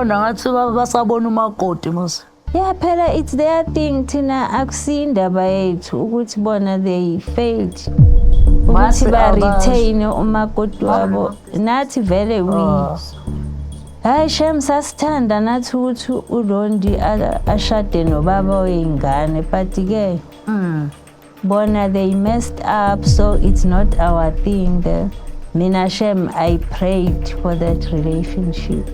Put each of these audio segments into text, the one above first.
Bona ngathi ba- basabona umakoti mos. Yeah, phela it's their thing thina akusindaba yethu ukuthi bona they failed. Ukuthi Mase ba abasho. retain umakoti wabo. Nathi vele we. Ah. Hayi shem sasithanda nathi ukuthi uLondi a- ashade nobaba weyingane but ke Mm. bona they messed up so it's not our thing the mina shem i prayed for that relationship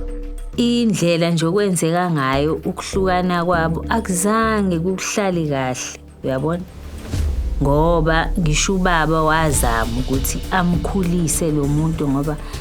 indlela nje okwenzeka ngayo ukuhlukana kwabo akuzange kukuhlali kahle uyabona ngoba ngisho ubaba wazama ukuthi amkhulise lo muntu ngoba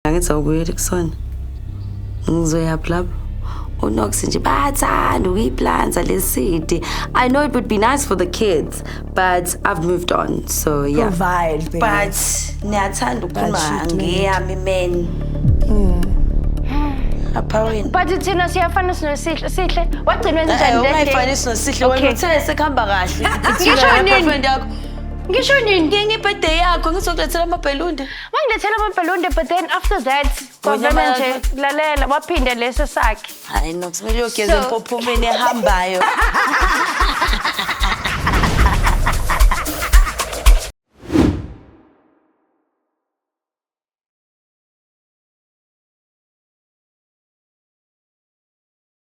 angithi awubuyeli kusona ngizoyaphi lapho unox nje bayathanda ukuyiplanza le city i know it would be nice for the kids but i've moved on so yeah Provide, babe. but niyathanda ukukhuluma But she do. ngeyami men apha wena but thina siyafana sinosihle sihle wagcina wenzenjani that day? ungayifanisi nosihle wena Okay. uthe sekuhamba kahle Ngisho nini? yakho ngisho nini ngenye ibhede yakho ngizokulethela amabhelunde wangilethela amabhalonde but then after that kwavele Wanyama- nje lalela waphinde leso sakhe hayi no kumele uyogeza So- empophomeni ehambayo